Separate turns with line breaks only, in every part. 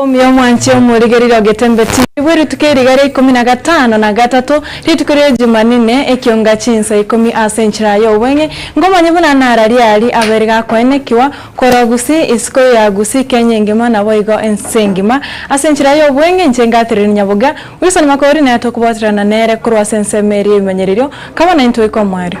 Omorogoba omwanche omorige rirogetie mbeti naibwe erituko eriga ria ikomi na gatano na gatato, rituko ria Jumanine, ekionga chinsa ikomi ase enchera y'obweng'e, nkomanye buna nara riari abere gakoenekiwa, korwa Gusii, isiko ya Gusii, Kenya engima, naboigo ense engima. Ase enchera y'obweng'e inche ngatereri Nyabogia, Wilson Makori, na tokoboterana nere korwa ase ensemo eria y'ebimanyererio, kabana intwe ikomoerio.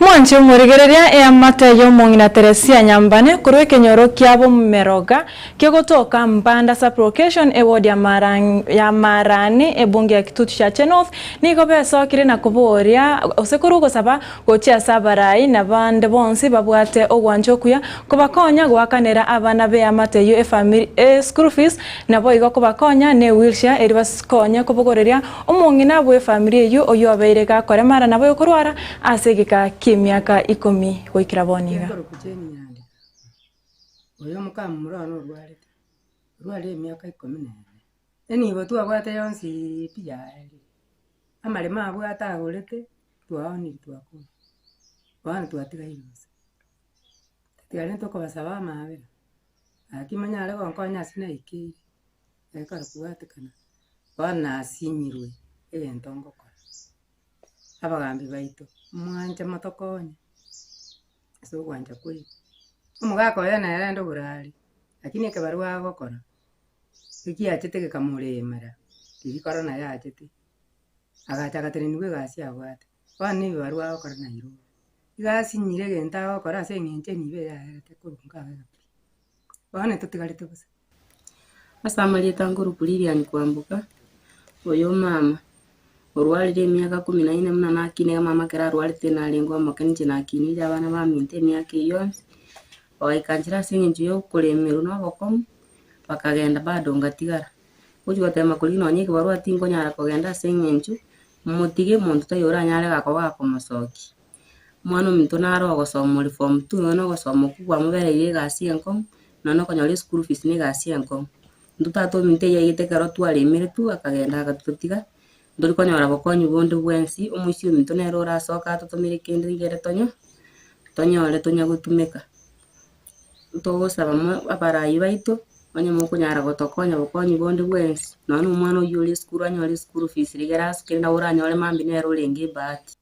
Mwanche omorigereria eamate y'omong'ina Teresia Nyambane korwa ekenyoro kia Bomeroga kegotoka Mbanda Sub-Location eward ya ya Marani ebunge ya Kitutu Chache North nigo besokire na koboria gose korwa ogosaba gochia ase abarai na bande bonsi babwate ogwancha okuya kobakonya goakanera abana b'eamate eyio efamiri e school fees naboigo kobakonya ne wheelchair erio basikonye kobogoreria Omong'ina bw'efamiri eyio oyio obeire gakoremara nabo yokorwara ase egeka ki'emiaka ikomi goikera bono iga. Chinkoroku ch'emianda
oyo mokamomura one orwarete, orwarire emiaka ikomi na ene. Enibo twabwate yonsi pi yaerire, amaremo abwate agorete twaoniri twakora, bono twatigaire bosa. Tiarentwe kobasaba amaabera, gaki monyare gonkonya ase naikeire. Ekero kwabwatekana, bono nasinyirwe egento ngokora. Abagambi baito, mwanche motokonye ase ogwancha kwaito. Omogaka oye nere rende oborare, lakini ekebarua agokora, ekiachete gekamoremera, riria korona naye aachete, agacha agateneniwa egasi abwate. Bono na ebibarua agokora nairobwo. Iga asinyire egento agokora ase eng'encho enibo eyaerete korwa nkabe. Bono totigarete bosa. Ase amarieta nkorokwa Lilian Kwamboka, oyo omama orwarire emiaka ikomi na ine buna nakinire amama ekero arwarete narenge omoke ninche nakinire abana baminto emiaka eyio yonsi, ogaika nchera ase eng'encho ya okoremerwa na obokong'u, bakagenda bado ngatigara. Ngochia goteema korigia nonya ekebarua tinkonyara kogenda ase eng'encho motige monto taiyo oranyare goka komosokia. Omwan'omonto naro ogosoma ore form two nonya na ogosoma okwo kwamobereire egasi enkong'u, nonya na okonyora eschool fees na egasi enkong'u. Intwe tata ominto eyio yaigete ekero twaremire tu akagenda agatotiga, ntori konyora bokonyi bonde bwensi, omoisia ominto nere orasoke atotomere kende rigere tonye, tonyore tonya gotumeka. Ntogosaba mo abarai baito, onye mokonyara gotokonya bokonyi bonde bwensi, nonya na omwana oyio ore esukuru anyore eschool fees rigere asoke nawe oranyore mambia nere orenge ebahati.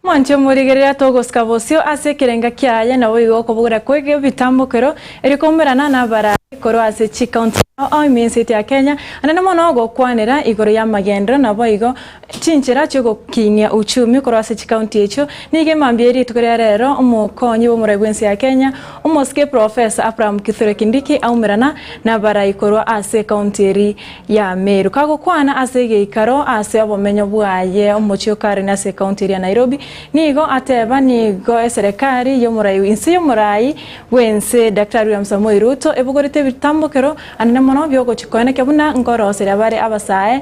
Mwanche omorigereria togosika bosio ase ekerenga kiaye, naboigo okobogora kw'egetambokero erio koumorana n'abarai korwa ase chikaunti ao ao eminsi etia Kenya, anene mono ogokwanera igoro y'amagenderero, naboigo Chinchera chi'ogokinia uchumi korwa ase chikaunti echio nigo emambia ye rituko ria rero omokonyi bw'omorai bwensi ya Kenya, omosike Professor Abraham Kithure Kindiki aumerana nabarai korwa ase ekaunti eri ya Meru kagokwana ase egeikaro ase obomenyo bwaye omochie o Karen ase ekaunti eri ya Nairobi nigo ateba nigo eserekari y'omorai inse y'omorai bwense Daktari William Samoei Ruto ebogorete ebitambokero anene mono biogochi koenekia buna nkoroseria bare abasae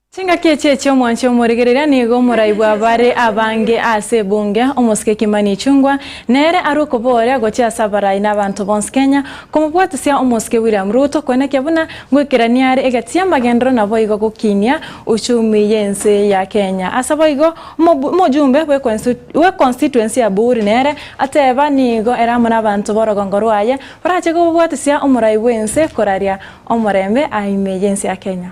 Chingaki echi echi'omwanche omoregereria nigo omorai bwa bare abange ase ebunge, omosike Kimani Ichungwa, nere arwe kobooria gochia ase abarai na abanto bonsi Kenya, komobwatisia omosike William Ruto koenekia buna ngoikerania are egati y'amagenderero naboigo gokinia uchumi y'ense ya Kenya. Ase boigo omojumbe bwe constituency ya Buri nere ateba nigo ere amo nabanto borogongo rwaye barache kobobwatisia omorai bw'ense koraria omorembe ime y'ense ya Kenya.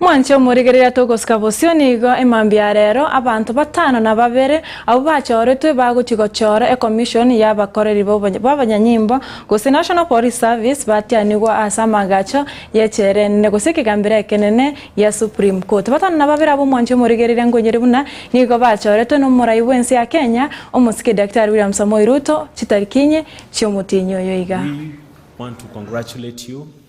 Mwanche omorigereria togosika bosio nigo emambia ya rero abanto batano na babere abwo bachoretwe bagochia gochora ekomishon ya abakoreri b'abanyanyimbo gose National Police Service batianigwa ase amagacho y'echela enene gose ekegambero ekenene gia Supreme Court. Batano na babere abwo mwanche omorigereria ngoinyore buna nigo bachoretwe n'omorai bw'ense ya Kenya omosike Daktari William Samoei Ruto chitariki inye chi'omotienyi oyo iga.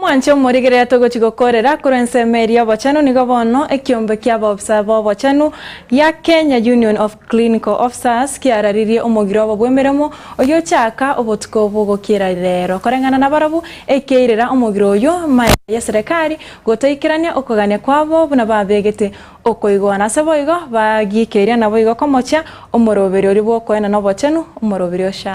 Mwanche omorigereria togochi gokorera korwa ensemo eria obochenu nigo bono ekiombe kia abaofisa b'obochenu gia Kenya Union of Clinical Officers kiararirie omogiro obo bw'emeremo oyochaka obotuko bw'ogokiera rero koreng'ana nabarabwo ekeirera omogiro oyio maega y'eserekari gotoikerania okogania kwabo buna babegete okoigwana ase boigo bagiikeria naboigo komochia omoroberio oria bw'okoena nobochenu omoroberio sha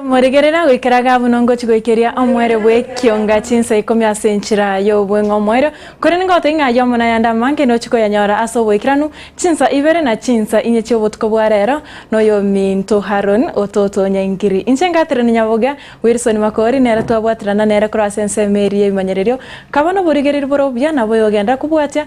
Omorigereri agoikera iga buna ngochi goikeria omwere bw'ekionga chinsa ikomi ase enchera y'obweng'a omoerio, korende ngoteba ng'a aye omona yande amange nochi koyanyora ase oboikeranu, chinsa ibere na chinsa inye chi'obotuko bwa reero noyominto Haron ototonya engiri. Inche ngaterania nyabogia Wilson Makori nere twabwaterana nere korwa ase ensemo eria y'ebimanyererio, kaba noborigereri bore obuya na boyogenda kobwatia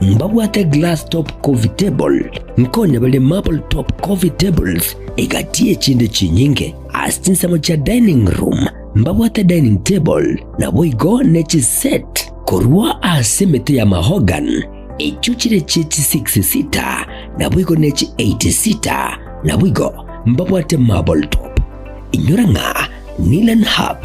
Mbabwate glass top coffee table, nkonye bare marble top coffee tables egati echinde chinyinge. Ase chinsemo chia dining room mbabwate dining table naboigo ne chiset korwa ase emete ya mahogan echio chire chie chi six sita naboigo ne chi eight sita naboigo mbabwate marble top. Inyora ng'a Nilen Hub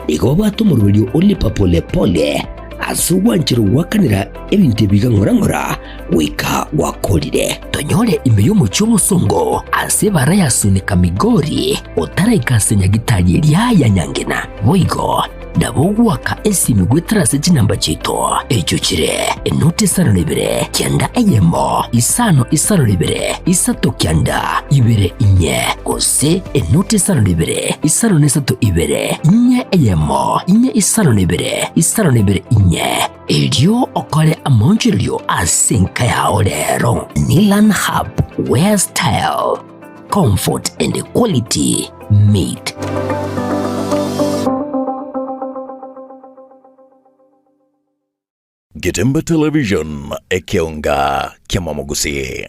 nigo obwate omoroberio o Lipa Pole Pole ase ogwanchire goakanera ebinto ebiiga ng'ora ng'ora goika gwakorire. Tonyore ime y'omochie omosongo ase ebara ya Seneca Migori otaraika ase nyagitari eria ya Nyangena. Boigo nabo ogwaka esiimi goetera ase chinamba chiaito echio chire enuti isano na ibere kianda eyemo, isano isano na ibere isato kianda ibere inye, gose. ase enoti isano na ibere, isano na isato ibere, inye eyemo, inye isano na ibere, isano na ibere inye. Erio okore amaonchorerio ase enka yao rero, Nilan Hub where style, comfort and quality meet.
Getembe Television, ekeonga kiamamo gose.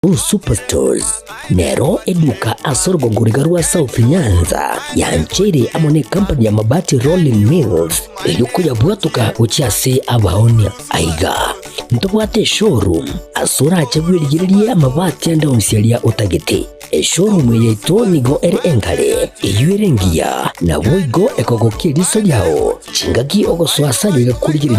Hu Superstores
nero eduka ase orogogoriga rwa South Nyanza yancheire amo ne company ya Mabati Rolling Mills erio koyabwatoka gochia ase abaonia. Aiga ntobwate eshowroom ase orache bwerigererie amabati ande onsi aria otagete. Eshowroom eye yaito nigo ere engare, eyio ere engiya, naboigo ekogokia eriso riao chingaki ogosoa ase ayio egakorigereria